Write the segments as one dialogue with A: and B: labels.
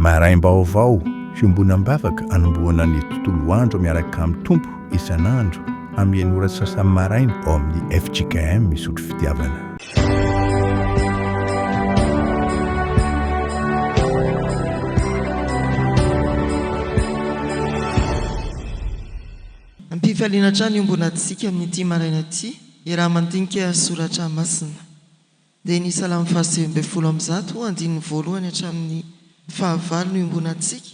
A: Maraim-baovao, Fiombonam-bavaka anombohana ny tontolo andro miaraka amin'ny Tompo isan'andro amin'ny enina ora sy sasany maraina ao amin'ny fjkm Misotro Fitiavana.
B: Am-pifaliana hatrany hiombonantsika amin'ity maraina ity, iaraha-mandinika soratra masina. Dia ny Salamo fahasivy ambin'ny folo amby zato, andininy voalohany hatramin'ny fahavalo no iombonantsika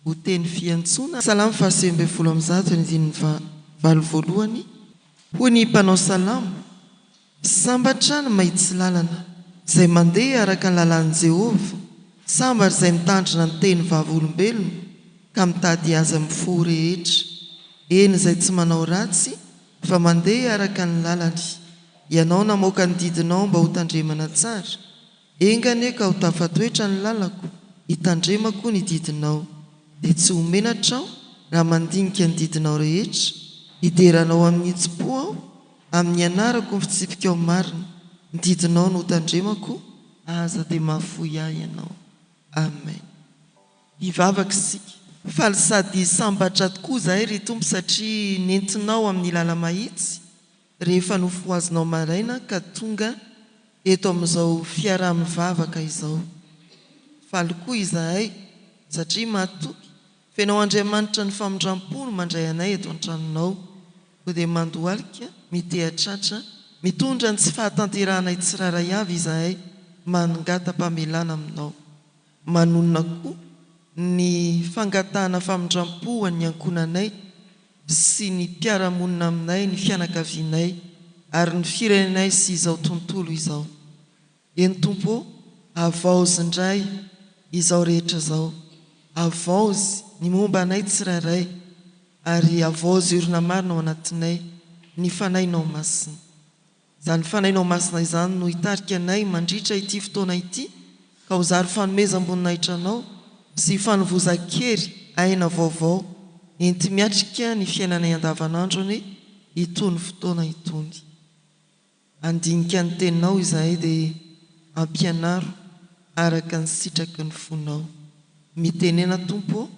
B: ho teny fiantsoana. Salamo fahasivy ambin'ny folo amby zato, andininy fahavalo voalohany, Hoy ny mpanao salamo, Sambatra ny mahitsy lalana, izay mandeha araka ny lalàn'i Jehovah, sambatra izay mitandrina ny teny vavolombelony ka mitady azy amin'ny fo rehetra, eny izay tsy manao ratsy fa mandeha araka ny lalany. Ianao namoaka ny didinao mba hotandremana tsara, enga anie ka ho tafatoetra ny lalako, hitandrema koa ny didinao. Dia tsy ho menatra aho raha mandinika ny didinao rehetra, hidera anao amin'ny hitsim-po aho, amin'ny hianarako ny fitsipikao marina, ny didinao no hotandremako, aza dia mahafoy ahy ianao. Amen. Hivavaka isika. Faly sady sambatra tokoa izahay, ry Tompo, satria nentinao amin'ny làla-mahitsy. rehefa nofohazinao maraina ka tonga eto amin'izao fiaraha-mivavaka izao. Faly koa izahay satria matoky f'Ianao Andriamanitra ny famindram-po no mandray anay eto an-tranonao, koa dia mandohalika, miteha-tratra, mitondra ny tsy fahatanterahanay tsirairay avy izahay, manongata-pamelana aminao. Manonona koa ny fangatahana famindram-po ho an'ny ankohonanay. sy ny mpiara-monina aminay, ny fianakavianay, ary ny firenenay sy izao tontolo izao. Eny Tompo ô, havaozy indray izao rehetra izao, havaozy ny momba anay tsirairay, ary havaozy orina marina ao anatinay ny Fanahinao Masina. Izany fanainao masina izany no hitarika anay mandritra ity fotoana ity, ka ho zary fanomezam-boninahitra Anao sy fanovozan-kery aina vaovao enti-miatrika ny fiainanay andavanandro anie itony fotoana itony. Handinika ny Teninao izahay dia ampianaro araka ny sitraky ny fonao. Mitenena Tompo ô,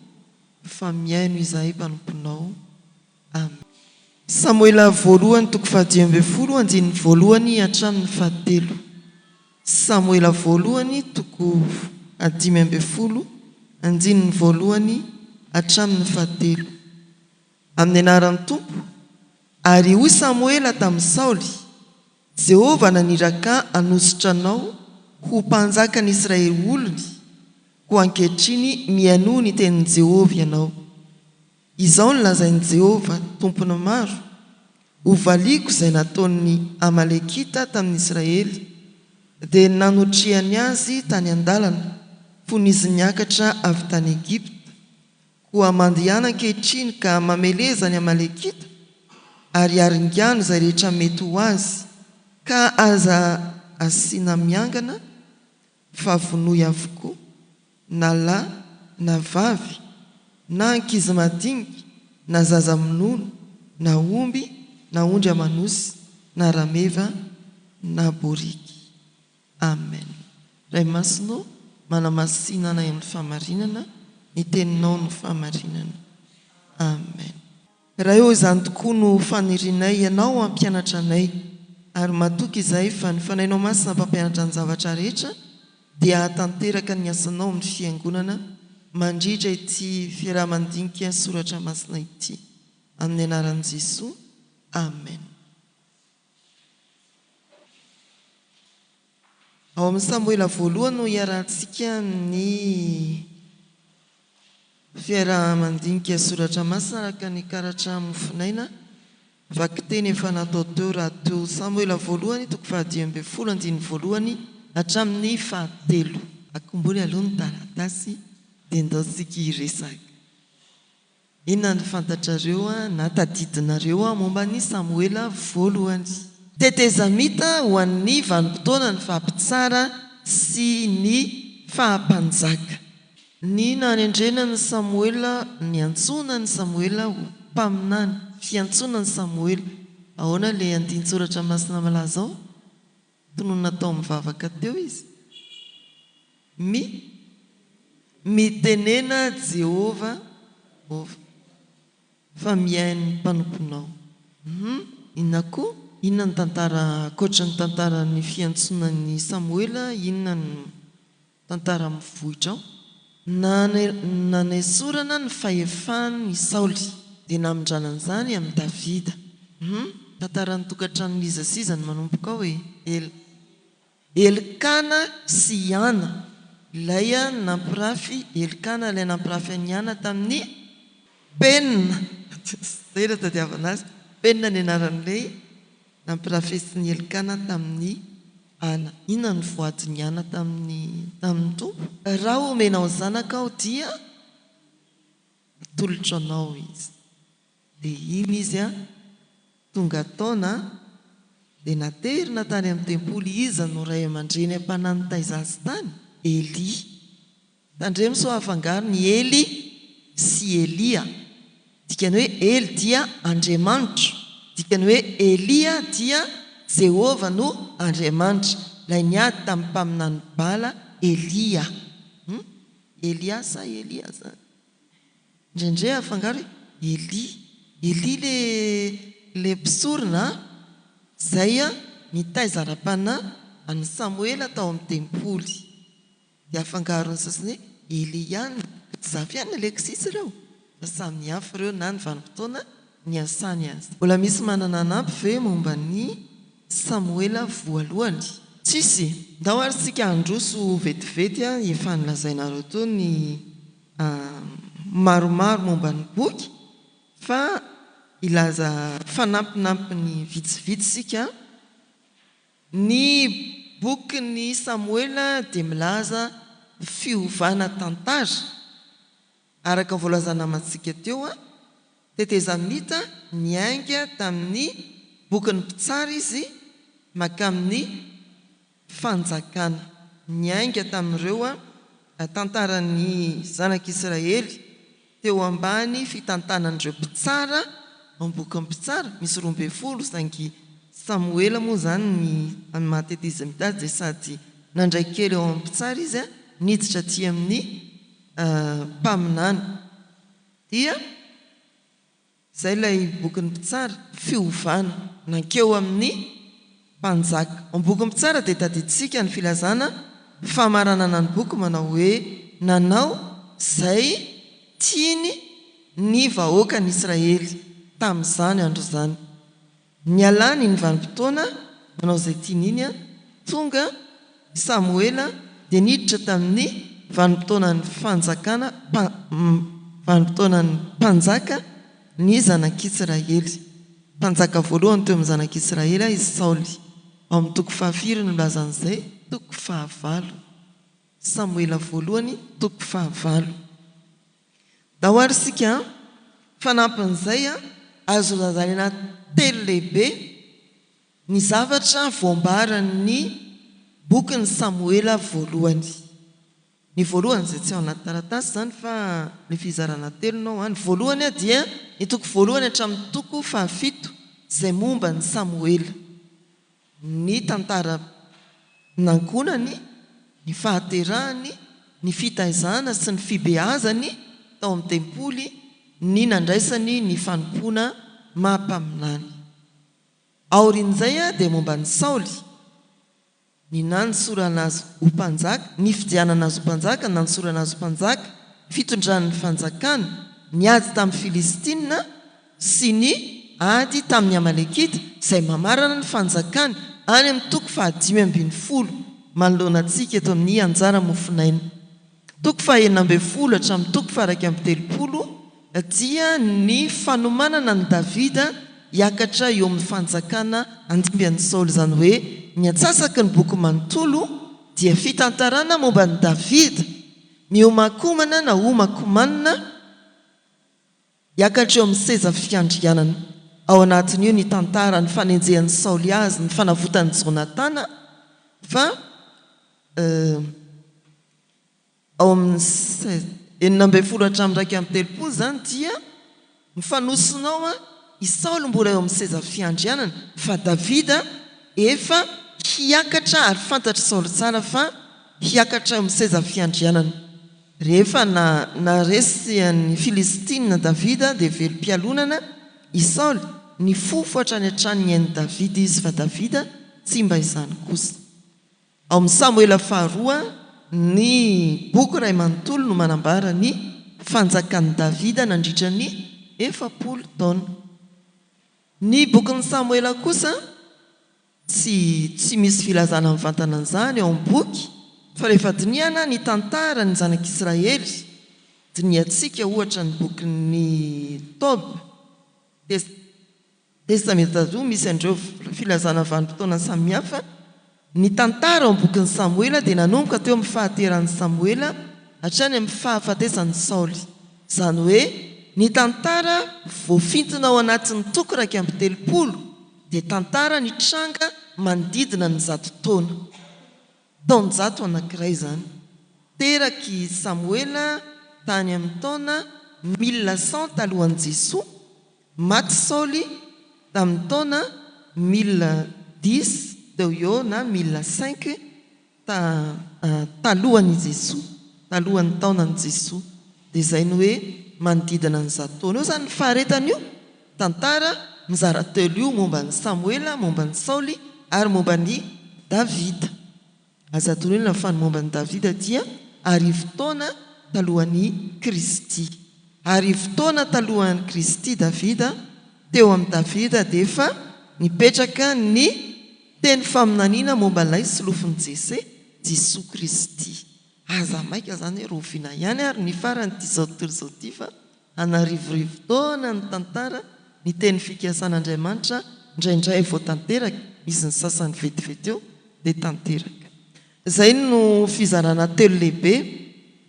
B: fa mihaino izahay mpanomponao. Am. Samoela Voalohany toko fahadimy ambin'ny folo andininy voalohany hatramin'ny fahatelo. Samoela Voalohany toko fahadimy ambin'ny folo andininy voalohany hatramin'ny fahatelo. Amin'ny anaran'ny Tompo, Ary hoy Samoela tamin'i Saoly, Jehovah naniraka hanosotra anao ho mpanjakan'Israely olony, koa ankehitriny mihainoa ny tenin'i Jehovah ianao. Izao no lazain'i Jehovah, Tompon'ny maro, Hovaliako izay nataon'ny Amalekita tamin'Israely, dia nanotrehany azy tany an-dalana, fony izy niakatra avy tany Egypta. Koa mandehana ankehitriny ka mameleza ny Amalekita, ary aringano izay rehetra mety ho azy, ka aza asiana miangana fa vonoy avokoa na lahy na vavy na ankizy madinika na zaza minono na omby na ondry aman'osy na rameva na boriky. Amen. Ray Masina ô, manamasina anay amin'ny fahamarinana, ny Teninao no fahamarinana. Amen. Ray ô, izany tokoa no fanirianay, Ianao hampianatra anay. Ary matoky izahay fa ny Fanahinao Masina mpampianatra ny zavatra rehetra dia hahatanteraka ny asanao amin'ny Fiangonana mandritra ity fiaraha-mandinika soratra masina ity. Amin'ny anaran'i Jesoa, Amen. Ao amin'ny Samoela voalohany no hiarahantsika ny fiaraha-mandinika soratra masina araka ny karatra mofonaina vakiteny efa natao teo rahateo. Samoela voalohany toko fahadimy ambin'ny folo andininy voalohany hatramin'ny fahatelo. Akombony aloha ny taratasy dia indaontsika hiresaka. Inona no fantatrareo na tadidinareo momba an'i Samoela Voalohany? Tetezamita ho an'ny vanim-potoana ny faha mpitsara sy ny faha mpanjaka. Ny nanendrena an'i Samoela Niantsoana an'i Samoela ho mpaminany Fiantsoana an'i Samoela Ahoana ilay andinin-tsoratra masina malaza ao? Tononina tao amin'ny vavaka teo izy, Mi, Mitenena Jehovah, fa mihaino ny mpanomponao. Hum, inona koa? Inona ny tantara, ankoatran'ny tantaran'ny fiantsonan'i Samoela, inona ny. Tantara amin'ny vohitra ao. Nanesorana ny fahefany i Saoly, dia namindrana an'izany amin'i Davida. Hum, tantaran'ny tokantranon'iza sy iza no manomboka ao e? El. Elkana sy i Ana. Ilay nampirafy Elkana, ilay nampirafy an'i Ana tamin'i Penina. Izay no tadiavana azy. Penina ny anaran'ilay Nampirafesin'i Elkana tamin'i Hana. Inona no voadin'i Hana tamin'ny tamin'ny Tompo? Raha homenao zanaka aho dia hatolotro anao izy. Dia iny izy a, tonga taona dia naterina tany amin'ny tempoly. Iza no ray aman-dreny am-panahy nitaiza azy tany? Elia. Tandremo sao afangaro ny Ely sy Elia. Dikany hoe Ely dia Andriamanitro. Dikany hoe Elia dia Jehovah no Andriamanitra, ilay niady tamin'ny mpaminany Bala, Elia. Hum? Elia sa Elia zany? Indraindray afangaro hoe Ely. Ely le le mpisorona a! Izay a, nitaiza ara-panahy an'i Samoela tao amin'ny tempoly. Dia afangaron'ny sasany hoe Eliane sy Zafiana Alexis ireo? Fa samy hafa ireo na ny vanim-potoana niasany aza. Mbola misy manana hanampy ve momba ny Samoela voalohany? Tsisy! Ndao ary isika handroso vetivety efa nolazainareo teo ny maromaro momba ny boky fa hilaza fanampinampiny vitsivitsy isika. Ny bokin'i Samoela dia milaza fiovana tantara. Araka ny voalazana amantsika teo, tetezamita niainga tamin'ny bokin'ny Mpitsara izy mankamin'ny Fanjakana. Niainga tamin'ireo tantaran'ny zanak'Israely. Teo ambany fitantanan'ireo mpitsara ao am-boky ny mpitsara, misy roa ambin'ny folo, saingy Samoela moa izany ny any maha-tety izy mitady dia sady nandray kely ao amin'ny mpitsara izy, niditra aty amin'ny mpaminany dia. Izay ilay bokin'ny mpitsara, fiovana nankeo amin'ny mpanjaka. Ao amin'ny bokin'ny mpitsara dia tadidintsika ny filazana famaranana ny boky manao hoe, Nanao izay tiany ny vahoakan'Israely tamin'izany andro izany. Nialany iny vanim-potoana manao izay tiany iny, tonga i Samoela dia niditra tamin'ny vanim-potoanan'ny fanjakana, vanim-potoanan'ny mpanjaka, ny zanak'Isiraely. Mpanjaka voalohany teo amin'ny zanak'Isiraely i Saoly. Ao amin'ny toko fahafiry no nilazany izay? Toko fahavalo. Samoela voalohany, toko fahavalo. Ndao ary isika an! Fanampin'izay an, azo razaraina telo lehibe ny zavatra voambaran'ny bokin'i Samoela voalohany. Ny voalohany, izay tsy ao anaty taratasy izany fa ny fizarana telo no ao. Ny voalohany dia ny toko voalohany hatramin'ny toko fahafito izay momba an'i Samoela. ny tantaran'ankohonany, ny fahaterahany, ny fitaizana sy ny fibeazany tao amin'ny tempoly, ny nandraisany ny fanompoana maha-mpaminany. Aorian'izay dia momba an'i Saoly, ny nanosorana azy ho mpanjaka, ny fidianana azy ho mpanjaka, ny nanosorana azy ho mpanjaka, ny fitondrany ny fanjakana, ny ady tamin'ny Filistina, sy ny ady tamin'ny Amalekita, izay mamarana ny Fanjakany, any amin'ny toko fahadimy ambin'ny folo manoloana antsika eto amin'ny Anjara mofonaina. Toko fahenina ambin'ny folo hatramin'ny toko faha-iraika amby telopolo dia ny fanomanana an'i Davida hiakatra eo amin'ny fanjakana handimby an'i Saoly, izany hoe ny antsasaky ny boky manontolo dia fitantarana momba an'i Davida mihomankomana na homankomanina, Hiakatra eo amin'ny seza fiandrianana. Ao anatin'io ny tantara, ny fanenjehan'i Saoly azy, ny fanavotan'i Jonatana, fa ao amin'ny sex. Enina ambin'ny folo hatramin'ny iraika amby telopolo izany dia mifanosona ao i Saoly mbola eo amin'ny seza fiandrianana, fa Davida efa hiakatra ary fantatr'i Saoly tsara fa hiakatra eo amin'ny seza fiandrianana. Rehefa naharesy an'i Filistina Davida dia velom-pialonana i Saoly, nifofo hatrany hatrany ny ain'i Davida izy, fa Davida tsy mba izany kosa. Ao amin'ny Samoela Faharoa, ny boky iray manontolo no manambara ny fanjakan'i Davida nandritra ny efapolo taona. Ny bokin'ny Samoela kosa Tsy tsy misy filazana mivantana an'izany ao amin'ny boky, fa rehefa dinihana ny tantaran'ny zanak'Israely, dinihantsika ohatra ny bokin'ny Tob, Tes, Testamentazoa misy an'ireo filazana vanim-potoana samihafa, ny tantara ao amin'ny bokin'i Samoela dia nanomboka teo amin'ny fahateran'i Samoela hatrany amin'ny fahafatesan'i Saoly. Izany hoe, ny tantara voafintina ao anatin'ny toko iraika amby telopolo, dia tantara nitranga manodidina ny zato taona, taonjato anankiray izany. Terak' i Samoela tany amin' ny taona mille cent talohan' Jesoa, maty Saoly tamin' ny taona mille dix teo ho eo na mille cinq Ta, talohan' i Jesoa, talohan' ny taonan' i Jesoa, dia izay ny hoe manodidina ny zato taona eo izany ny faharetan' io tantara mizara telo io momba an' i Samoela, momba an' i Saoly ary momba an' i Davida. Aza adinoina fa ny momba an' i Davida dia arivo taona talohan' i Kristy. Arivo taona talohan' i Kristy Davida, teo amin' i Davida dia efa nipetraka ny. Teny faminaniana momba ilay solofon'i Jese, Jesoa Kristy. Aza maika izany hoe roviana ihany ary ny faran'itizao tontolo izao ity fa an'arivorivo taona ny tantara, ny teny fikasan'Andriamanitra indraindray vao tanteraka, misy ny sasany vetivety eo dia tanteraka. Izay no fizarana telo lehibe,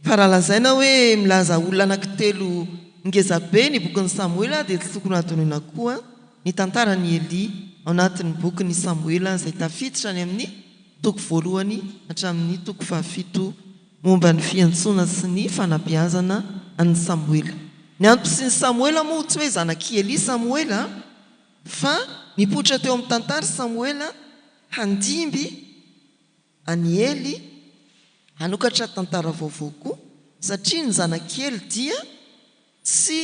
B: fa raha lazaina hoe milaza olona anankitelo ngeza be ny bokin'i Samoela dia tsy tokony hadinoina koa ny tantaran'i Elia ao anatin'ny bokin'i Samoela izay tafiditra any amin'ny toko voalohany hatramin'ny toko fahafito momba ny fiantsoana sy ny fanabeazana an'i Samoela. Ny antom-pisian'i Samoela moa tsy hoe zanak'i Elia Samoela fa nipoitra teo amin'ny tantara i Samoela, Handimby an'i Ely hanokatra tantara vaovao koa satria ny zanak'Ely dia tsy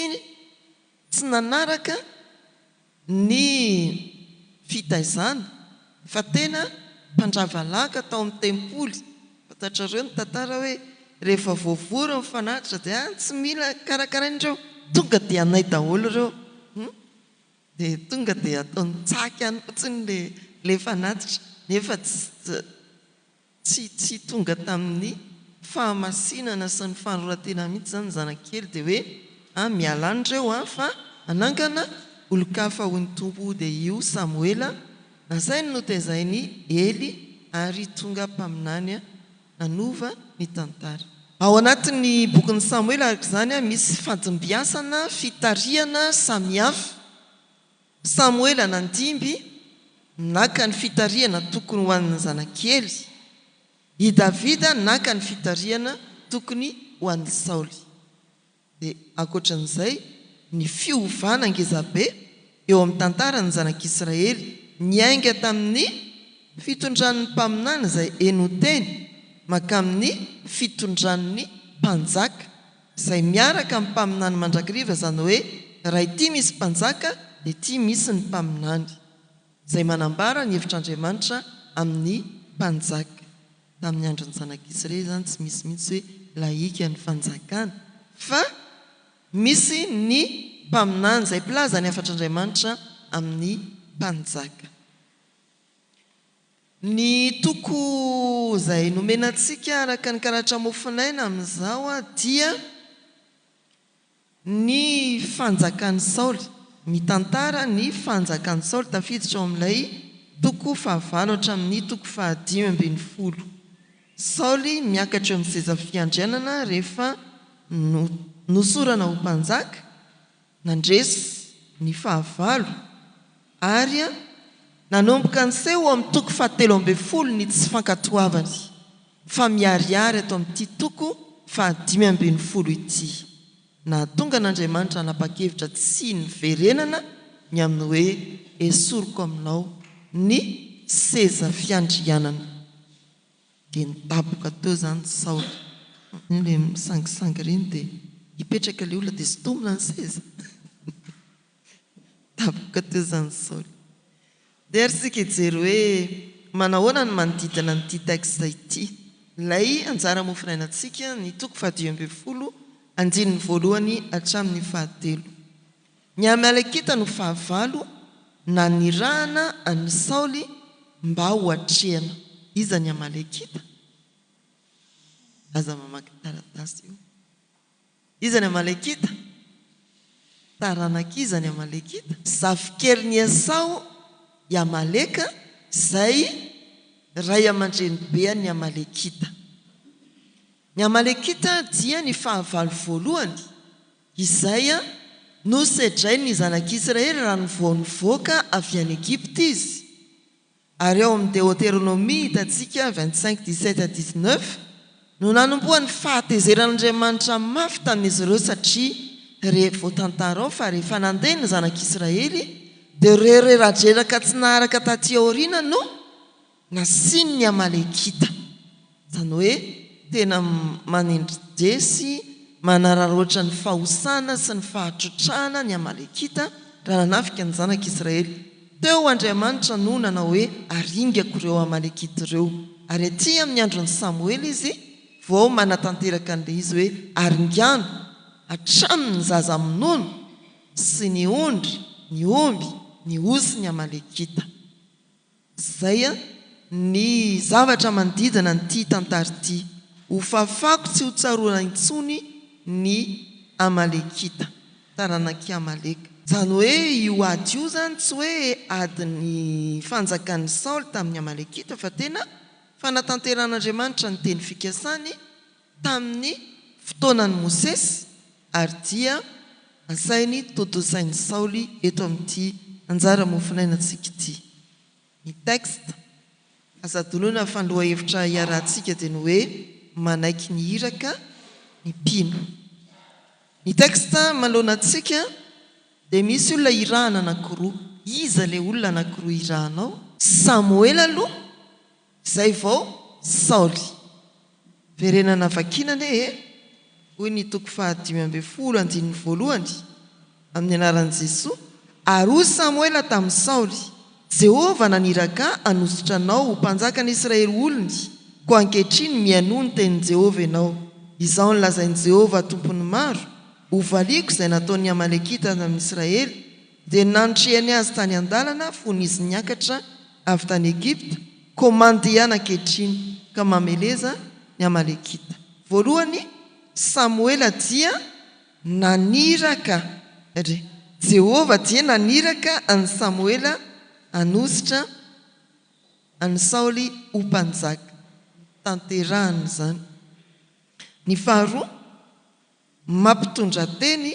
B: tsy nanaraka ny fitaizana fa tena mpandrava laka tao amin'ny tempoly. Fantatrareo ny tantara hoe rehefa voavory ny fanatitra dia tsy mila karakaraina ireo, tonga dia anay daholo ireo. Dia tonga dia ataony tsaky any fotsiny ilay ilay fanatitra nefa tsy tsy tonga tamin'ny fahamasinana sy ny fanoratena mihitsy izany ny zanak'ikely dia hoe a miala any ireo a fa hanangana olon-kafa hoy ny Tompo dia io Samoela nasainy notezainy Ely ary tonga mpaminany nanova ny tantara. Ao anatin'ny bokin'i Samoela araka izany, misy fandimbiasana fitarihana samihafa. Samoela nandimby naka ny fitarihana tokony ho an'ny zanakely. I Davida naka ny fitarihana tokony ho an'i Saoly. dia ankoatran'izay, ny fiovana ngezabe eo amin'ny tantaran'ny zanak'Israely niainga tamin'ny fitondran'ny mpaminany izay henonteny mankamin'ny fitondran'ny mpanjaka izay miaraka amin'ny mpaminany mandrakiriva, izany hoe raha ity misy mpanjaka dia ity misy ny mpaminany. izay manambara ny hevitr'Andriamanitra amin'ny mpanjaka. Tamin'ny andron'ny zanak'Israely izany tsy misy mihitsy hoe lahika ny fanjakana fa misy ny mpaminany izay mpilaza ny hafatr'Andriamanitra amin'ny mpanjaka. Ny toko izay nomena antsika araka ny karatra mofonaina amin'izao dia. Ny fanjakan'i Saoly. Mitantara ny fanjakan'i Saoly tafiditra ao amin'ilay toko fahavalo hatramin'ny toko fahadimy ambin'ny folo. Saoly miakatra eo amin'ny seza fiandrianana rehefa nosorana ho mpanjaka, nandresy ny fahavalo. Ary nanomboka niseho ao amin'ny toko fahatelo ambin'ny folo ny tsy fankatoavany, fa miharihary ato amin'ity toko fahadimy ambin'ny folo ity. Nahatonga an'Andriamanitra hanapa-kevitra tsy niverenana ny amin'ny hoe esoriko aminao ny seza fiandrianana. Dia nidaboka teo izany Saoly. Ilay misangisangy ireny dia hipetraka ilay olona dia sintomina ny seza. Tapoka teo izany Saoly. Dia ary isika hijery hoe manahoana ny manodidina an'ity texte ity. Ilay anjara mofinainantsika, ny toko fahadimy ambin'ny folo, andininy voalohany hatramin'ny fahatelo. Ny Amalekita no fahavalo nanirahana an'i Saoly mba ho atrehina. Iza ny Amalekita? Aza mamaky taratasy io. Iza ny Amalekita? Taranak'iza ny Amalekita? Zafikelin'i Esao i Amaleka, izay ray aman-drenibean'ny Amalekita. Ny Amalekita dia ny fahavalo voalohany, izay nosedrain'ny Zanak'Isiraely raha nivao nivoaka avy any Egypta izy. Ary ao amin'ny Deoteronomia hitantsika, vingt cinq dix sept à dix neuf, no nanombohan'ny fahatezeran'Andriamanitra mafy tamin'izy ireo satria re voatantara ao fa rehefa nandeha ny zanak'Israely dia ireo reradreraka tsy naharaka taty aoriana no nasian'ny Amalekita. Izany hoe tena manendri-dia sy manararaotra ny fahosana sy ny fahatrotrahana ny Amalekita raha nanafika ny Zanak' Israely. Teo Andriamanitra no nanao hoe, Aringako ireo Amalekita ireo. Ary aty amin' ny andron' i Samoela Izy vao manatanteraka an'ilay izy hoe, Aringano hatramin' ny zaza amin' ono sy ny ondry, ny omby, ny osy ny Amalekita. Izay ny zavatra manodidina an'ity tantara ity. Hofafako tsy hotsarona intsony ny Amalekita, taranak'i Amaleka. Izany hoe io ady io izany tsy hoe adin'ny fanjakan'i Saoly tamin'ny Amalekita fa tena fanatanteran'Andriamanitra ny teny fikasany, Tamin'ny fotoanan'i Mosesy ary dia asainy tontosain'i Saoly eto amin'ity anjara mofonainantsika ity. Ny texte azo adinoina fa ny lohahevitra iarahantsika dia ny hoe manaiky ny iraka ny mpino. Ny texte manoloana antsika dia misy olona irahana anankiroa. Iza ilay olona anankiroa irahanao? Samoela aloha Izay vao Saoly. Verenana vakina anie e! hoy ny toko fahadimy ambin'ny folo andininy voalohany, Amin'ny anaran'i Jesoa, ary hoy Samoela tamin'i Saoly, Jehovah naniraka ahy hanosotra anao ho mpanjakan'ny Israely olony, koa ankehitriny mihainoa ny tenin'i Jehovah ianao. Izao no lazain'i Jehovah Tompon'ny maro, Hovaliako izay nataon'ny Amalekita tamin'ny Israely, Dia nandriany azy tany an-dalana fony izy niakatra avy tany Egypta, koa mandeha ankehitriny ka mameleza ny Amalekita. Voalohany, Samoela dia naniraka, ry Jehovah dia naniraka an'i Samoela hanositra an'i Saoly ho mpanjaka. Tanterahany izany. Ny faharoa, mampitondrateny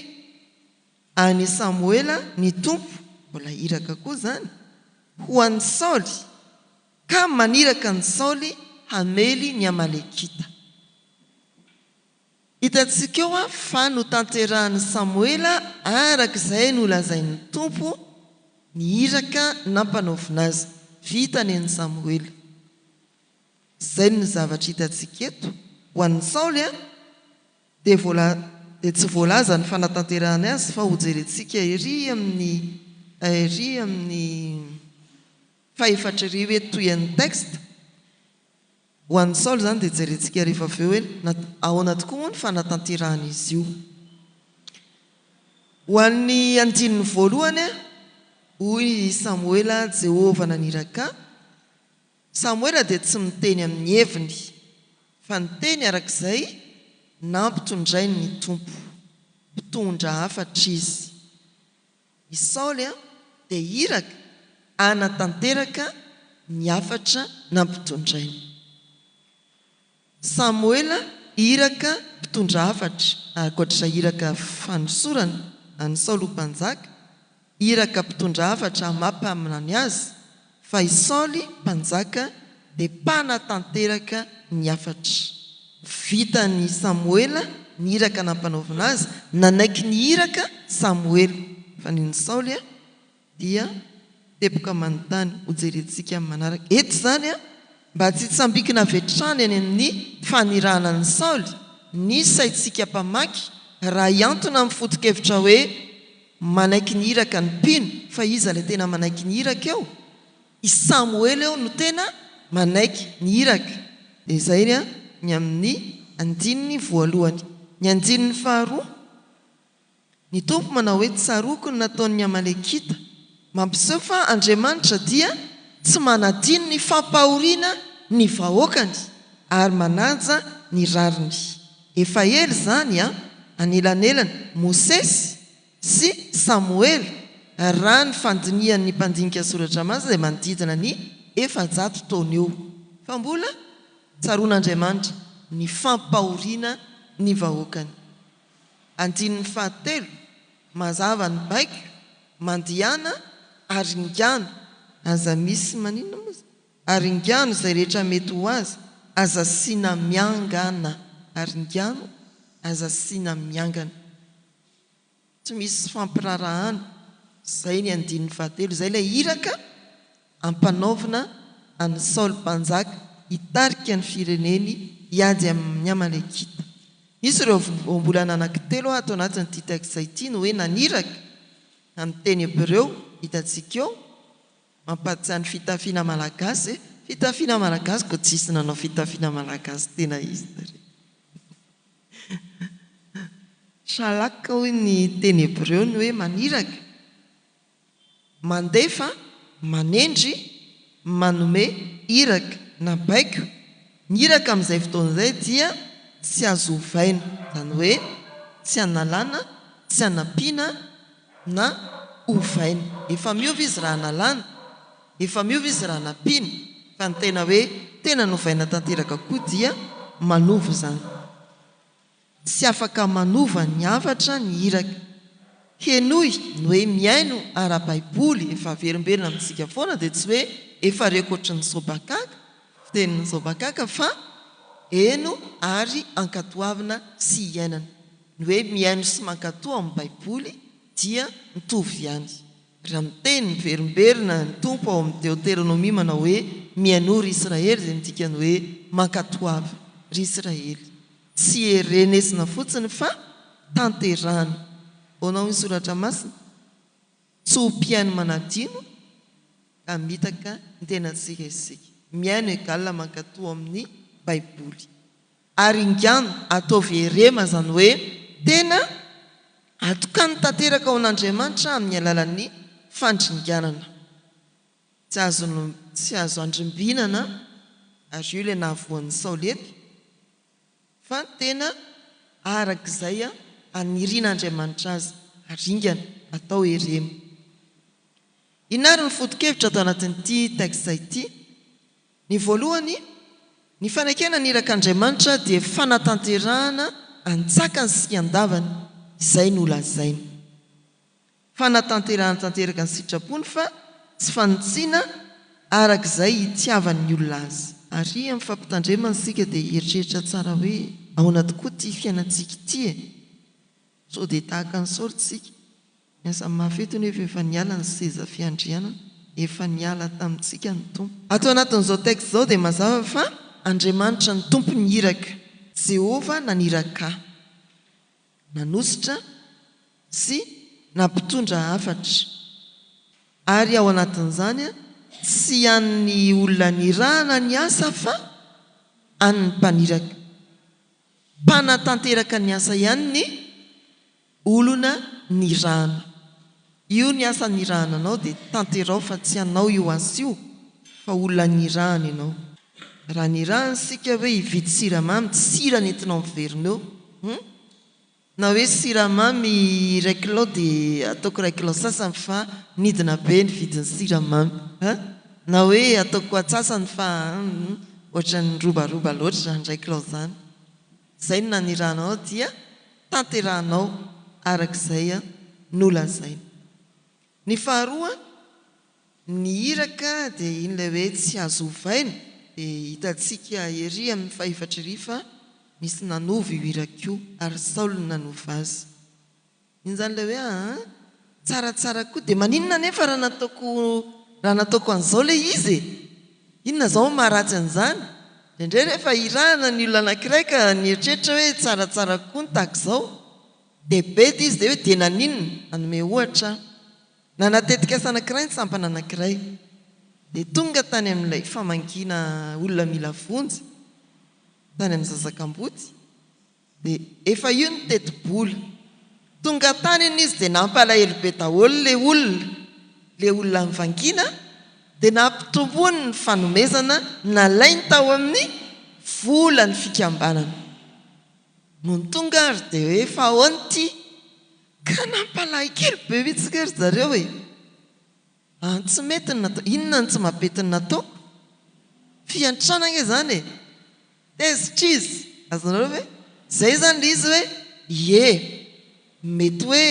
B: An'i Samoela ny Tompo, mbola iraka koa izany, ho an'i Saoly, ka maniraka an'i Saoly hamely ny Amalekita. Hitantsika eo fa notanterahin'i Samoela araka izay nolazain'ny Tompo ny iraka nampanaovina azy. Vitany an'i Samoela. Izay no zavatra hitantsika eto, ho an'i Saoly. dia tsy voalaza ny fanatanterahany azy fa hojerentsika ery amin'ny ery amin'ny fahefatr'ery hoe toy an'ny texte. Ho an'i Nsaolo izany dia jerentsika rehefa avy eo hoe ahoana tokoa moa ny fanatanterahan'izy io. Ho an'ny andininy voalohany, hoy i Samoela, Jehovah naniraka, Samoela dia tsy miteny amin'ny heviny, fa niteny araka izay nampitondrainy ny Tompo. Mpitondra hafatra izy. I Saoly dia iraka hanatanteraka ny hafatra nampitondrainy. Samoela iraka mpitondra hafatra, ankoatr'izay iraka fanosorana an'i Saoly ho mpanjaka, iraka mpitondra hafatra hamapaminany azy, fa i Saoly mpanjaka dia mpanatanteraka ny hafatra. Vitan'i Samoela ny iraka nampanaovina azy, nanaiky ny iraka Samoela, fa ny an'i Saoly a! dia teboka manontany ho jerentsika amin'ny manaraka eto izany mba tsy hitsambikina avy hatrany any amin'ny fanirahana an'i Saoly ny saintsika mpamaky raha hiantona amin'ny foto-kevitra hoe manaiky ny iraka ny mpino fa iza ilay tena manaiky ny iraka eo? i Samoela eo no tena manaiky ny iraka dia izay ny amin'ny andininy voalohany ny andininy faharoa Ny Tompo manao hoe tsaroako ny nataon'ny Amalekita, mampiseho fa Andriamanitra dia tsy manadino ny fampahoriana ny vahoakany ary manaja ny rariny. Efa ela izany an, anelanelan'i Mosesy sy Samoela raha ny fandinihan'ny mpandinika soratra masina izay manodidina ny efajato taona eo fa mbola tsaroan'Andriamanitra ny fampahoriana ny vahoakany. Andininy fahatelo, Mazava ny baiko, mandihana ary ingano. Aza misy maninona moa izany? Ary ingano izay rehetra mety ho azy, aza asiana miangana. Ary ingano, aza asiana miangana. Tsy misy fampiraharahana. Izay ny andininy fahatelo. Izay ilay iraka. ampanaovina an'i Nsaolo Mpanjaka hitarika ny fireneny hiady amin'ny Amalekita. Misy ireo voambolana anankitelo ato anatin'ity texte ity ny hoe naniraka, amin'ny teny hebreo, hitantsika eo, mampahatsiahy ny fitafiana malagasy e! Fitafiana malagasy koa tsisy nanao fitafiana malagasy tena izy tary e! Shalak hoy ny teny hebreo ny hoe maniraka. mandefa, manendry, manome iraka na baiko, ny iraka amin'izay fotoana izay dia tsy azo ovaina, izany hoe tsy analana, tsy anampiana na ovaina. Efa miova izy raha analana, efa miova izy raha anampiana, fa ny tena hoe tena novaina tanteraka koa dia manova izany. Tsy afaka manova ny hafatra ny iraka. Henoy ny hoe mihaino ara-baiboly efa averimberina amintsika foana dia tsy hoe efa rekotry ny zobakaka, fitenin'ny zobakaka, fa heno ary ankatoavina sy iainana. Ny hoe mihaino sy mankatoa ao amin'ny baiboly dia mitovy ihany. Raha miteny miverimberina ny Tompo ao amin'ny Deoteronomia manao hoe mihainoa ry Israely dia midika ny hoe mankatoava ry Israely. Tsy erenezina fotsiny fa tanterahina. Ahoana hoy ny Soratra Masina? Tsy ho mpihaino manadino ka mitaka ny tenantsika isika. Mihaino égale mankatoa amin'ny Baiboly. Ary ingano, ataovy erema izany hoe tena atokany tanteraka ho an'Andriamanitra amin'ny alalan'ny fandringanana. Tsy azo tsy azo andrimbinana ary io ilay nahavoan'ny saolety fa tena arak'izay anirian'Andriamanitra azy haringana atao hereno. Inona ary ny foto-kevitra ato anatin'ity texte ity? Ny voalohany, ny fanekena ny irak'Andriamanitra dia fanatanterahana antsakany sy andavany izay nolazainy. Fanatanterahany tanteraka ny sitrapony fa tsy fanintsiana araka izay itiavan'ny olona azy. Ary amin'ny fampitandremana isika dia hieritreritra tsara hoe ahoana tokoa ity fiainantsika ity e? Sao dia tahaka ny Saoly isika? Miasa mafy eto nefa efa niala ny seza fiandrianana, efa niala tamintsika ny Tompo. Ato anatin'izao texte izao dia mazava fa Andriamanitra no Tompon'ny iraka. Jehovah naniraka ahy. nanosotra sy nampitondra hafatra, ary ao anatin'izany tsy an'ny olona nirahana ny asa fa an'ny mpaniraka, mpanatanteraka ny asa ihany ny olona nirahana. Io ny asa nirahana anao dia tanteraho fa tsy anao io asa io fa olona nirahana ianao. Raha nirahana isika hoe hividy siramamy tsy sira nentinao miverina eo hum! Na hoe siramamy iray kilao dia ataoko iray kilao sasany fa nidina be ny vidin'ny siramamy hum! Na hoe ataoko atsasany fa hum! Ohatran'ny robaroba loatra izany iray kilao izany. Izay no nanirahana anao dia tanterahanao araka izay nolazainy. Ny faharoa, ny iraka dia iny ilay hoe tsy azo ovaina, dia hitantsika ery amin'ny fahefatra ery fa nisy nanova io iraka io ary Saul no nanova azy. Injany ilay hoe aa tsaratsara koa dia maninona anefa raha nataoko raha nataoko an'izao ilay izy e? Inona izao no maharatsy an'izany? Indraindray rehefa hirahana ny olona anankiray ka nieritreritra hoe tsaratsara koa ny tahaka izao dia bedy izy dia hoe dia naninona? Hanome ohatra aho. Nanana tetikasa anankiray ny sampana anankiray. Dia tonga tany amin'ilay famangiana olona mila vonjy tany amin'ny Zazakamboty. Dia efa io ny tetibola. Tonga tany anie izy dia nampalahelo be daholo ilay olona, ilay olona nivangiana dia nampitomboiny ny fanomezana nalainy tao amin'ny volan'ny fikambanana. Nony tonga ary dia hoe fa ahoana ity? Ka nampalahikelo be mihitsy ry zareo e! Mba ny tsy mety no nataoko. Inona no tsy mampety no nataoko? Fiantrana ange izany e! Tezitr'izy. Azonareo ve? Izay izany ilay izy hoe, ie. Mety hoe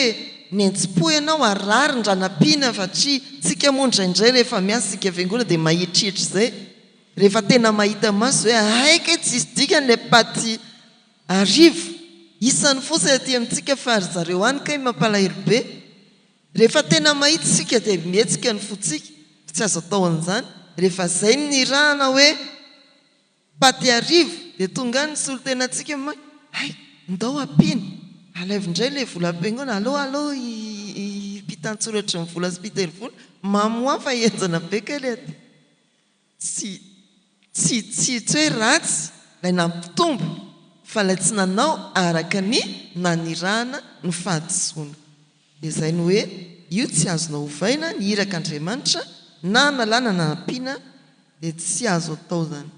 B: nenjim-po ianao ary rarin-dRanapiana fa tsy isika moa indraindray rehefa miasa isika fiangonana dia mahitrihitra izay. Rehefa tena mahita maso hoe hay kay tsy hisy dikany ilay paty arivo isany fotsiny aty amintsika fa ry zareo any kay mampalahelo be. Rehefa tena mahita isika dia mihetsika ny fontsika, fa tsy azo atao an'izany. Rehefa izay no nirahana hoe paty arivo dia tonga any ny solontenantsika hoe may, hay, ndao ampiana, alaivo indray ilay vola am-piangona, alao alao i mpitan-tsoratry ny vola sy mpitery vola, mamy ho ahy fa henjana be kay ilay aty. Tsy tsy tsy tsy hoe ratsy lay nampitombo fa lay tsy nanao araka ny nanirahana ny fahadisoana. Dia zay no hoe io tsy azonao ovaina ny irak Andriamanitra na analana na ampiana dia tsy azo atao zany.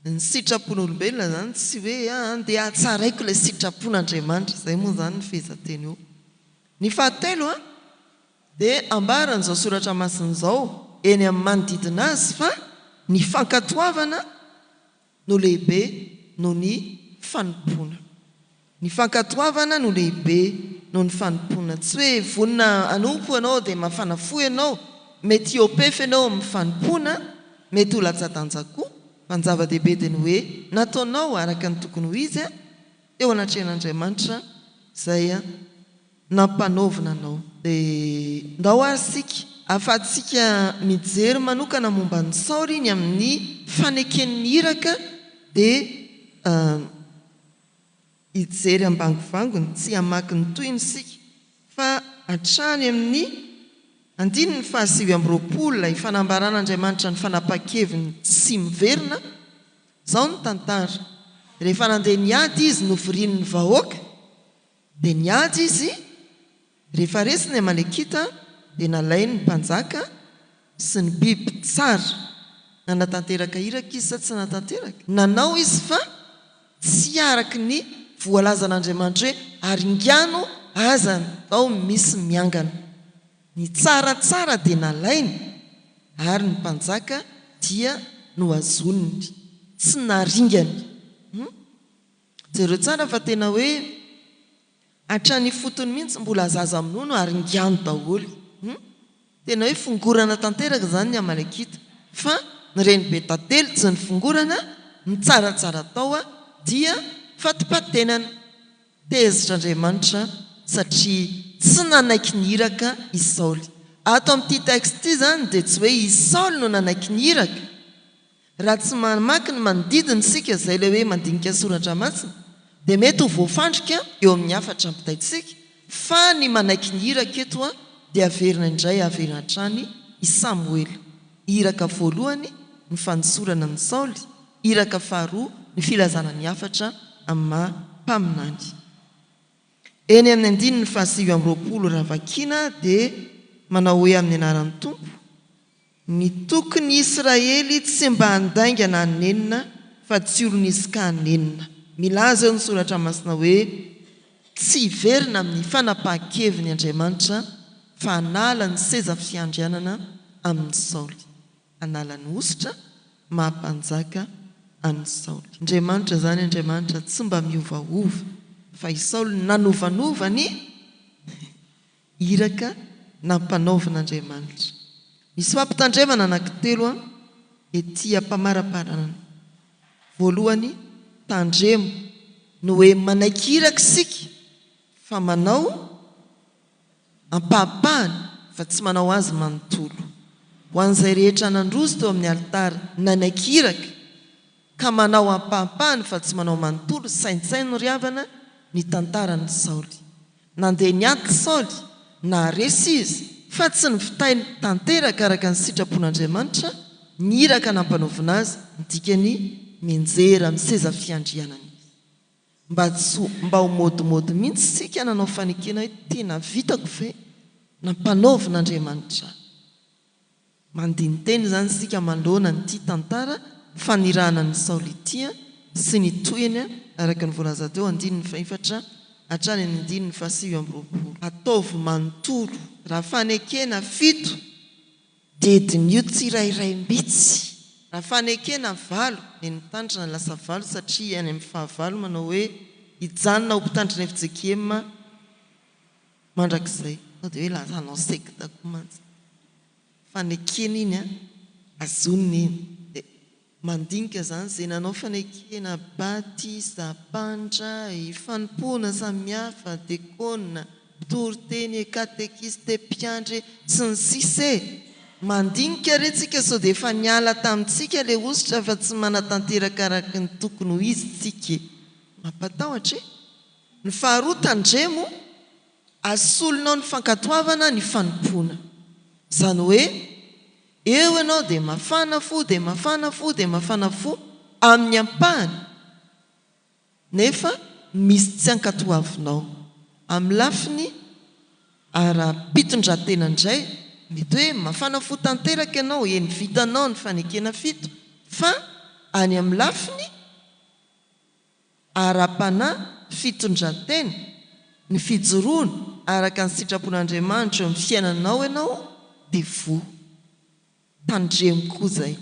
B: Ny sitrapon'olombelona izany tsy hoe andeha hatsaraiko ilay sitrapon'Andriamanitra, izay moa izany ny fehezanteny eo. Ny fahatelo dia ambaran'izao soratra masina izao eny amin'ny manodidina azy fa ny fankatoavana no lehibe noho ny fanompoana. Ny fankatoavana no lehibe noho ny fanompoana. Tsy hoe vonona hanompo ianao dia mafana fo ianao, mety hiopefy ianao amin'ny fanompoana, mety ho latsa-danja koa, fa ny zava-dehibe dia ny hoe nataonao araka ny tokony ho izy teo anatrehan'Andriamanitra izay nampanaovina anao. Dia ndao ary isika ahafahantsika mijery manokana momba an'i Saoly iny amin'ny faneken'ny iraka dia hijery ambangovangony, tsy hamaky ny tohiny isika fa hatrany amin'ny andininy fahasivy amby roapolo ilay fanambaran'Andriamanitra ny fanapahan-keviny tsy miverina, izao ny tantara, rehefa nandeha niady izy novorian'ny vahoaka, Dia niady izy, rehefa resy ny Amalekita dia nalainy ny mpanjaka sy ny biby tsara. Nanatanteraka iraka izy sa tsy nanatanteraka? Nanao izy fa tsy araka ny voalazan'Andriamanitra hoe haringano aza ny tao misy miangana. Ny tsara tsara dia nalainy ary ny mpanjaka dia nohazoniny. Tsy naringany. Hum. Jereo tsara fa tena hoe hatrany ifotony mihintsy mbola zaza minono ary ngano daholo hum! Tena hoe fongorana tanteraka zany ny amalekita fa ny renibe tantely tsy nifongorana ny tsaratsara tao dia fatipatenana! Tezitra Andriamanitra satria tsy nanaiky ny iraka i Saoly. Ato amin'ity texte ity zany dia tsy hoe i Saoly no nanaiky ny iraka Raha tsy mamaky ny manodidina isika izay ilay hoe mandinika ny soratra masina dia mety ho voafandrika eo amin'ny hafatra ampitaintsika fa ny manaiky ny iraka eto dia averina indray averina hatrany i Samoela, iraka voalohany ny fanosorana an'i Saoly, iraka faharoa ny filazana ny hafatra amin'ny maha mpaminany. Eny amin'ny andininy fahasivy amby roapolo raha vakiana dia manao hoe amin'ny anaran'ny Tompo, Nitoky ny Israely tsy mba handaingana an'i Nenina fa tsy olon'izy ka Nenina. Milaza eo ny Soratra Masina hoe, Tsy hiverina amin'ny fanapahan-keviny Andriamanitra fa hanala ny seza fiandrianana amin'i Saoly. Hanala ny hosotra maha-mpanjaka an'i Saoly. Andriamanitra izany, Andriamanitra tsy mba miovaova. Fa i Saoly nanovanova ny. Iraka nampanaovin'Andriamanitra. Misy fampitandremana anankitelo an, ety am-pamaraparanana. Voalohany, tandremo ny hoe manaiky iraka isika fa manao ampahapahany fa tsy manao azy manontolo. Ho an'izay rehetra nandroso teo amin'ny alitara nanaiky iraka ka manao ampahapahany fa tsy manao manontolo, saintsaino ry havana ny tantaran'i Saoly. Nandeha niady i Saoly, naharesy izy, fa tsy nivitainy tanteraka araka ny sitrapon'Andriamanitra ny iraka nampanaovina azy, ny dikany, mianjera amin'ny seza fiandrianana izy. Mba tsy ho, mba ho modimody mihitsy isika nanao fanekena hoe tena vitako ve? Nampanaovin'Andriamanitra ahy. Mandini-teny izany isika manoloana an'ity tantara fanirahana an'i Saoly ity sy ny tohiny araka ny voalaza teo andininy fahefatra hatrany amin'ny andininy fahasivy amby roapolo. Ataovy manontolo. Raha fanekena fito, dia diniho tsirairay mbitsy. Raha fanekena valo, dia ny tandrina no lasa valo satria any amin'ny fahavalo manao hoe, Hijanona ho mpitandrina efijekiema. Mandrakizay. Sao dia hoe lasa hanao sekta koa mantsy. Fanekena iny an, azonina iny. Dia mandinika izany izay nanao fanekena, batisa, mpandray, fanompoana samihafa, dekona, mpitory teny e, katekista e, mpiandry e, sy ny sisa e! Mandinika re tsika sao dia efa niala tamintsika ilay hosotra fa tsy manatanteraka araka ny tokony ho izy tsika e! Mampatahotra e! Ny faharoa, tandremo ary solonao ny fankatoavana ny fanompoana. Izany hoe, eo ianao dia mafana fo, dia mafana fo, dia mafana fo, amin'ny ampahany, nefa misy tsy ankatoavinao. Amin'ny lafiny ara-pitondrantena indray, mety hoe mafana fo tanteraka ianao, eny vitanao ny fanekena fito, fa any amin'ny lafiny. ara-panahy, fitondran-tena, ny fijoroana araka ny sitrapon'Andriamanitra eo amin'ny fiainanao ianao dia voa. Tandremo koa izay.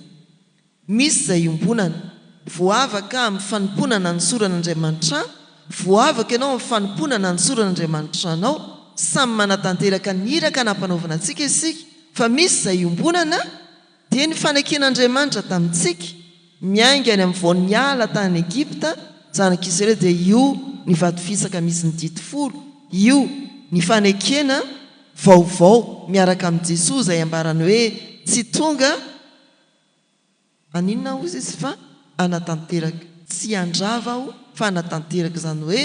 B: Misy izay iombonana. Voavaka amin'ny fanompoana nanosorana Andriamanitrà, voavaka ianao amin'ny fanompoana nanosorana Andriamanitrà anao. Samy manatanteraka ny iraka nampanaovina antsika isika, fa misy izay iombonana. Dia ny faneken'Andriamanitra tamintsika, miainga any amin'ny voan'ny ala tany Egypta, zanak'Israely dia io ny vatofisaka misy ny didy folo, io ny fanekena vaovao miaraka amin'i Jesoa izay ambarany hoe tsy tonga haninona hozy Izy fa hanatanteraka, tsy handrava aho fa hanatanteraka, izany hoe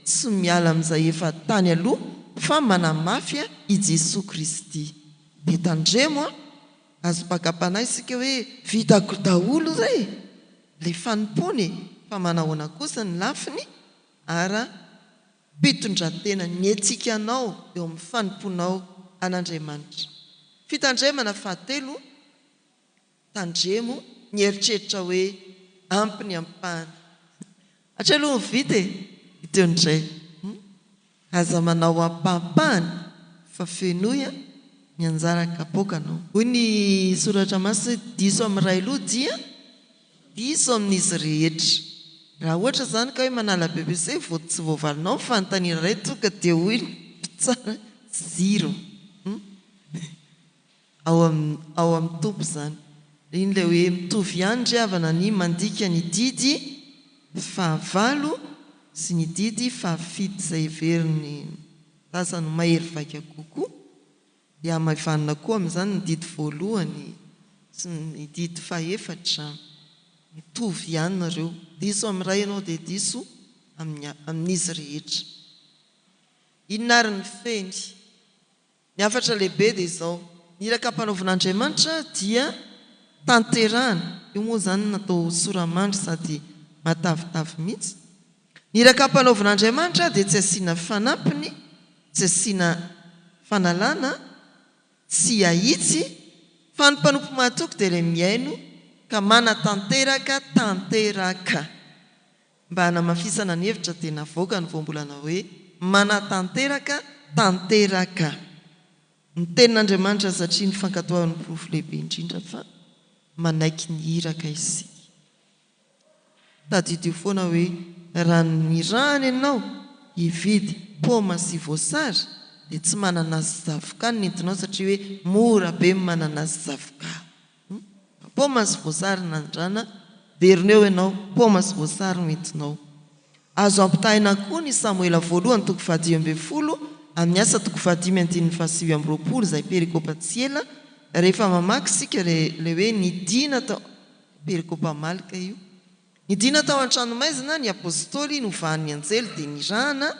B: tsy miala amin'izay efa tany aloha fa manamafy i Jesoa Kristy. Dia tandremo an! Aza bagabana isika hoe vitako daholo re ilay fanompoany fa manahoana kosa ny lafiny ara pitondratena ny etsikanao eo amin'ny fanompoanao an'Andriamanitra. Fitandremana fahatelo Tandremo ny eritreritra hoe ampy ny ampahany. Hatreto aloha ho vita e! Hita eo indray. Hum. Aza manao ampahampahany fa fenoy an! ny anjara kapoaka no. Hoy ny soratra masina hoe diso amin'ny iray loha dia diso amin'izy rehetra. Raha ohatra izany ka hoe manala bbc vao tsy voavalinao ny fanontaniana iray tonga dia hoy ny mpitsara zero. Hum. Ao ao amin'ny Tompo izany. Iny ilay hoe mitovy ihany ry havana ny mandika ny didy fahavalo sy ny didy fahafito izay heverin'ny sasany ho mahery vaika kokoa. Dia hamaivanina koa amin'izany ny didy voalohany sy ny didy fahefatra. Mitovy ihany nareo. Diso amin'ny iray ianao dia diso amin'ny amin'izy rehetra. Inona ary ny feny? Ny hafatra lehibe dia izao, ny iraka ampanaovina Andriamanitra dia tanterahana, io moa izany natao sora-mandry sady matavitavy mihitsy, ny iraka ampanaovina Andriamanitra dia tsy asiana fanampiny, tsy asiana fanalana, tsy ahitsy, fa ny mpanompo mahatoky dia ilay mihaino ka manatanteraka tanteraka. Mba hanamafisana ny hevitra dia navoaka ny voambolana hoe, Manatanteraka tanteraka ny Tenin'Andriamanitra satria ny fankatoavan'ny porofo lehibe indrindra fa manaiky ny iraka isika. Tadidio foana hoe raha nirahana ianao hividy paoma sy voasary dia tsy mananasy sy zavoka no nentinao satria hoe mora be ny mananasy sy zavoka. Hum paoma sy voasary nandrana velona eo ianao paoma sy voasary no entinao. Azo ampitahaina koa ny Samoela voalohany toko fahadimy ambin'ny folo amin'ny Asa toko fahadimy andininy fahasivy amby roapolo izay perikopa tsy ela rehefa mamaky isika ilay hoe nidina tao perikopa Malka io nidina tao an-tranomaizina ny Apostoly novahan'ny anjely dia nirahana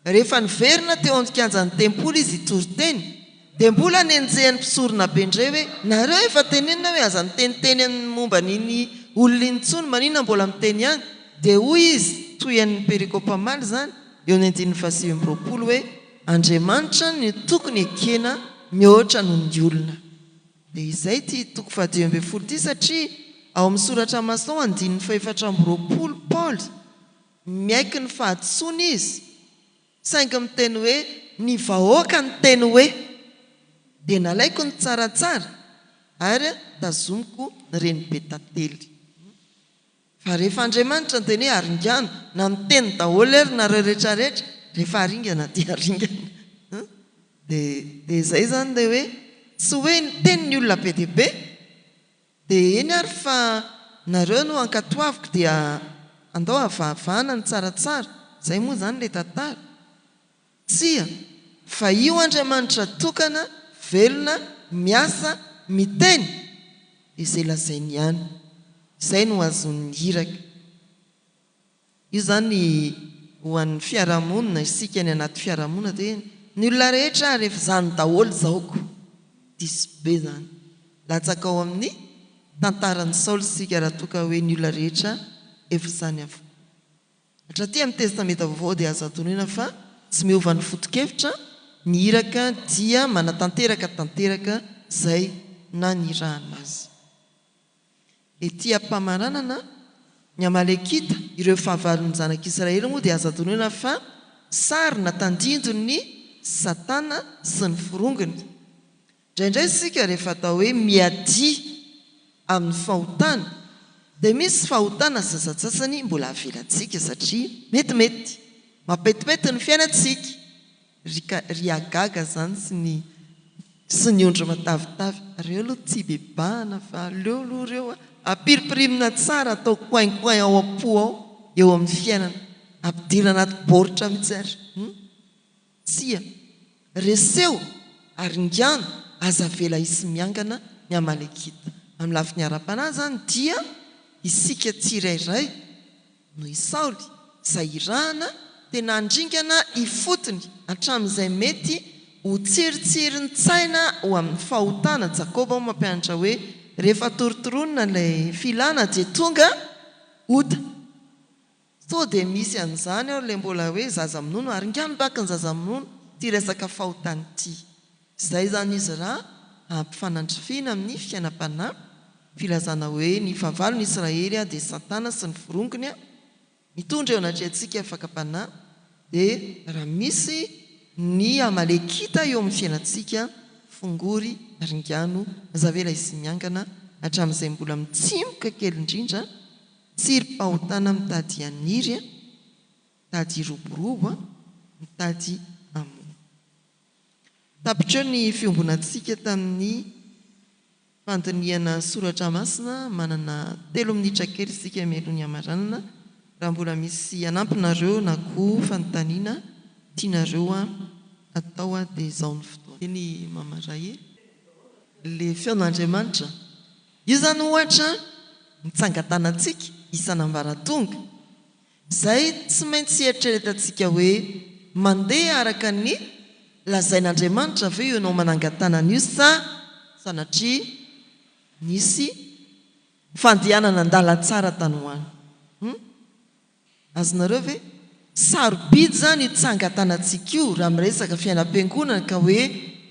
B: Rehefa niverina teo amin'ny kianjan'ny tempoly izy hitory teny, dia mbola nenjehin'ny mpisoronabe indray hoe, Nareo efa tenenina hoe aza miteniteny amin'ny momba an'iny olona iny intsony, maninona mbola miteny ihany? Dia hoy izy, toy an'ny perikopa omaly izany, eo amin'ny andininy fahasivy amby roapolo hoe, Andriamanitra no tokony ekena mihoatra noho ny olona. Dia izay ity toko fahadimy ambin'ny folo ity, satria ao amin'ny soratra mason andininy fahefatra amby roapolo, Paoly, Miaiky ny fahadisoany izy, saingy miteny hoe. Ny vahoaka niteny hoe. Dia nalaiko ny tsaratsara ary tazomiko ny renibe tantely. Fa rehefa Andriamanitra niteny hoe aringano, na miteny daholo ary nareo rehetra rehetra, rehefa aringana dia aringana. Dia dia izay izany ilay hoe, tsy hoe niteny ny olona be dia be, Dia eny ary fa nareo no ankatoaviko dia andao avahavahana ny tsaratsara, izay moa izany ilay tantara? Tsia, fa io Andriamanitra tokana, velona, miasa, miteny, izay lazainy ihany, izay no azon'ny iraka. Io zany ho an'ny fiarahamonina, isika any anaty fiarahamonina de ny olona rehetra ary efa zany daholo zao ko diso be zany latsaka ao amin'ny tantaran'i Saoly isika raha toa ka hoe ny olona rehetra efa zany avokoa. Hatraty amin'ny testamenta vaovao dia azo antonoina fa tsy miova ny fotokevitra, ny iraka dia manatanteraka tanteraka zay nanirahana azy. Ety am-pamaranana, ny Amalekita, ireo fahavalon'ny zanak'Israely moa dia azo adinoina fa sary na tandindon'i Satana sy ny forongony. Indraindray isika rehefa atao hoe miadia amin'ny fahotana dia misy fahotana sasantsasany mbola avelantsika satria metimety mampetimpety ny fiainantsika. Ry ka ry hagaga zany sy ny sy ny ondry matavitavy reo aloha tsy ibebahana fa aleo aloha reo a apiripirimina tsara atao coin coin ao ampo ao eo amin'ny fiainana ampidira anaty baoritra mitsy ary hum tsia reseho ary ingano aza avela hisy miangana ny amalekita amin'ny lafiny arapanahy zany dia isika tsirairay Noho i Saoly, izay irahana, dia nandringana ifotony hatramin'izay mety ho tsiritsirin-tsaina ho amin'ny fahotana, Jakoba hono mampianatra hoe, Rehefa torotoronina ilay filana dia tonga ota. Sao dia misy an'izany ao ilay mbola hoe zaza minono, ary ingahy no baka ny zaza minono ity resaka fahotana ity. Izay izany izy ra ampifanandrifiana amin'ny fiainam-panahy, filazana hoe ny fahavalon'i Israely dia Satana sy ny forongony mitondra eo anatrehantsika fakam-panahy, dia raha misy ny Amalekita eo amin'ny fiainantsika, fongory ringano aza avela hisy miangana hatramin'izay mbola mitsimoka kely indrindra, tsirim-pahotana mitady haniry, mitady hiroborobo, mitady hamono. Tapitra ny fiombonantsika tamin'ny fandinihana soratra masina, manana telo minitra kely isika mialoha ny hamaranana, raha mbola misy hanampinareo na koa fanontaniana tianareo atao dia izao ny fotoana. Eny mama ray e. Ilay feon'Andriamanitra. Io izany ohatra mitsangan-tanantsika isan'ambaratonga Izay tsy maintsy eritreretantsika hoe, mandeha araka ny lazain'Andriamanitra ve ianao manangan-tàna an'io sa sanatria nisy fandehanana an-dalantsara tany ho any? Hum? Azonareo ve? Sarobidy izany io tsangan-tànantsika io raha miresaka fiainam-piangonana ka hoe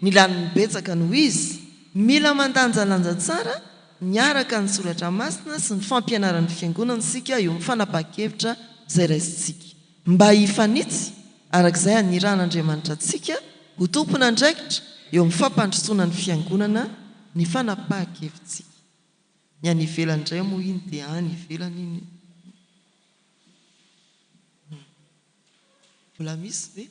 B: ny lanin'ny betsaka no izy. Mila mandanjalanja tsara Miaraka ny soratra masina sy ny fampianaran'ny Fiangonana isika eo amin'ny fanapahan-kevitra izay raisintsika. Mba hifanitsy araka izay anirahan'Andriamanitra antsika ho tompon'andraikitra eo amin'ny fampandrosoana ny Fiangonana ny fanapahan-kevitsika. Ny any ivelany indray moa iny dia any ivelany iny e. Mbola misy ve?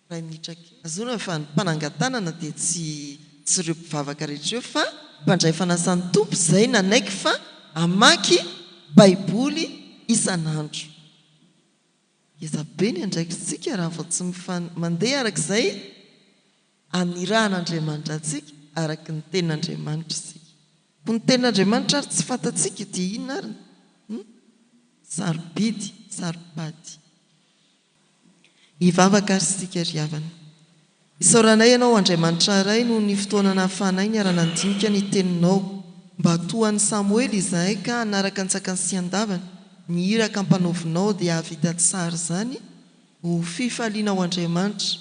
B: iray minitra kely. Ahazoana fa ny mpanangan-tanana dia tsy tsy ireo mpivavaka rehetra ireo fa mpandray fanasan'ny Tompo izay nanaiky fa hamaky Baiboly isan'andro. Ngeza be ny andraikitsika raha vao tsy mandeha araka izay anirahan'Andriamanitra antsika, araka ny Tenin'Andriamanitra isika. Koa ny Tenin'Andriamanitra ary tsy fantatsika dia inona ary? Sarobidy, saro-pady. Hivavaka àry isika ry havana. Isaoranay Ianao, Andriamanitra Ray, noho ny fotoana nahafahanay niara-nandinika ny Teninao, mba toa an'i Samoela izahay ka hanaraka antsakany sy andavany ny iraka ampanaovinao dia hahavita tsara izany ho fifalianao Andriamanitra.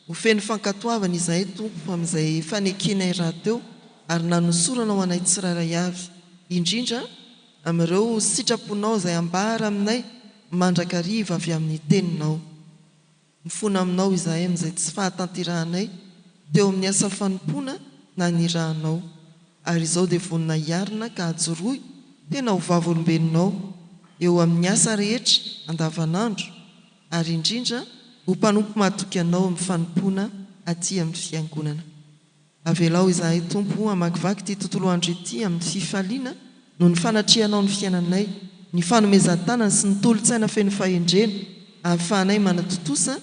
B: Ho feno fankatoavana izahay Tompo amin'izay fanekenay rahateo ary nanosorana ho anay tsirairay avy, indrindra Amin'ireo sitraponao izay ambara aminay mandrakariva avy amin'ny Teninao. Mifona aminao izahay amin'izay tsy fahatanterahanay teo amin'ny asa fanompoana nanirahanao, ary izao dia vonona hiarina ka hajorohy tena ho vavolombelonao eo amin'ny asa rehetra andavanandro, ary indrindra ho mpanompo matoky Anao amin'ny fanompoana aty amin'ny Fiangonana. Avelao izahay, Tompo, hamakivaky ity tontolo andro ity amin'ny fifaliana noho ny fanatrihanao ny fiainanay, ny fanomezan-tanana sy ny tolo-tsaina feno fahendrena ahafahanay manatontosa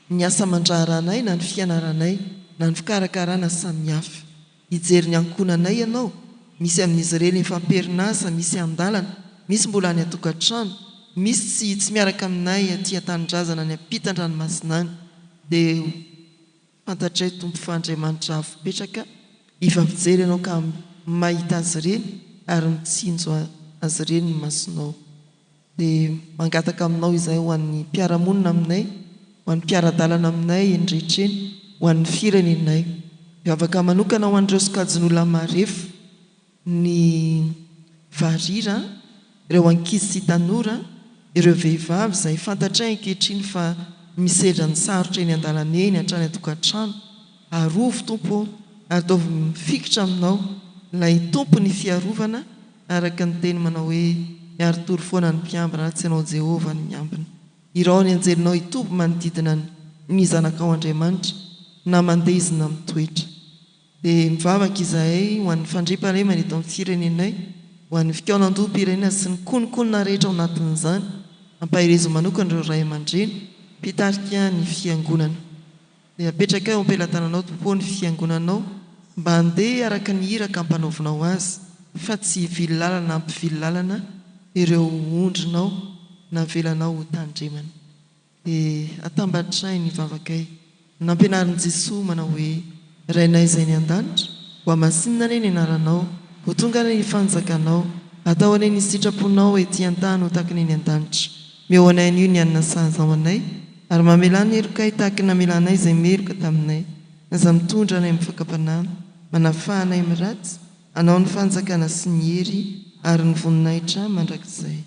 B: ny asa aman-draharahanay na ny fianaranay na ny fikarakarana samihafa. Hijery ny ankohonanay Ianao, misy amin'izy ireny efa am-perinasa, misy an-dalana, misy mbola any an-tokantrano, misy tsy hitsy miaraka aminay aty an-tanindrazana any am-pitan-dranomasina any. Dia ho. Fantatray Tompo fa Andriamanitra avy mipetraka efa mijery anao ka mahita azy ireny ary mitsinjo azy ireny ny masonao. Dia mangataka aminao izay ho an'ny mpiara-monina aminay, ho an'ny mpiara-dalana aminay eny rehetra eny, ho an'ny firenenay. Mivavaka manokana ho an'ireo sokajin'olona marefo. ny varira, ireo ankizy sy tanora, ireo vehivavy izay fantatray ankehitriny fa misedra ny sarotra eny an-dalana eny hatrany an-tokantrano. Arovy Tompo ô, ataovy mifikitra Aminao, ilay Tompon'ny fiarovana, araka ny Teny manao hoe, Miari-tory foana ny mpiambina raha tsy Ianao Jehovah no miambina. Irao ny anjelinao hitoby manodidina ny Zanakao Andriamanitra, na mandeha izy na mitoetra. Dia mivavaka izahay ho an'ny fandriampahalemana eto amin'ny firenenay, ho an'ny fikaonandoham-pirenena sy ny kononkonona rehetra ao anatin'izany. Ampaherezo manokana ireo ray aman-dreny, mpitarika ny Fiangonana. Dia apetrakay eo am-pelatananao, Tompo ô, ny Fiangonanao, mba handeha araka ny iraka ampanaovinao azy, fa tsy hivily lalana hampivily lalana ireo ondrinao navelanao hotandremana. Dia atambatray ny vavakay. Nampianarin'i Jesoa manao hoe, Rainay izay any an-danitra, ho amasinina anie ny anaranao, ho tonga anie ny fanjakanao, atao anie ny sitraponao ety an-tany ho tahaka ny any an-danitra. Meo anay anio ny hanina sahaza ho anay, ary mamelà ny helokay tahaka ny namelanay izay meloka taminay. Aza mitondra anay amin'ny fakam-panahy, manafaha anay amin'ny ratsy, hanao ny fanjakana sy ny hery ary ny voninahitra mandrakizay.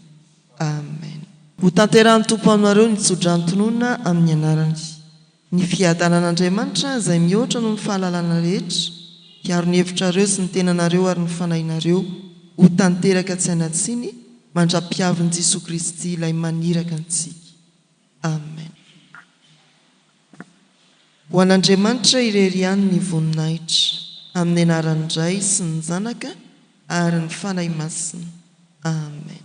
B: Amen. Ho tanterahin'ny Tompo aminareo ny tsodranontonona amin'ny anarany. Ny fiadanan'Andriamanitra izay mihoatra noho ny fahalalana rehetra hiaro ny hevitrareo sy ny tenanareo ary ny fanahinareo ho tanteraka tsy hanatsiny mandra-piavin'i Jesoa Kristy ilay maniraka antsika. Amen. Ho an'Andriamanitra irery ihany ny voninahitra, amin'ny anaran'ny Ray sy ny Zanaka ary ny Fanahy Masina. Amen.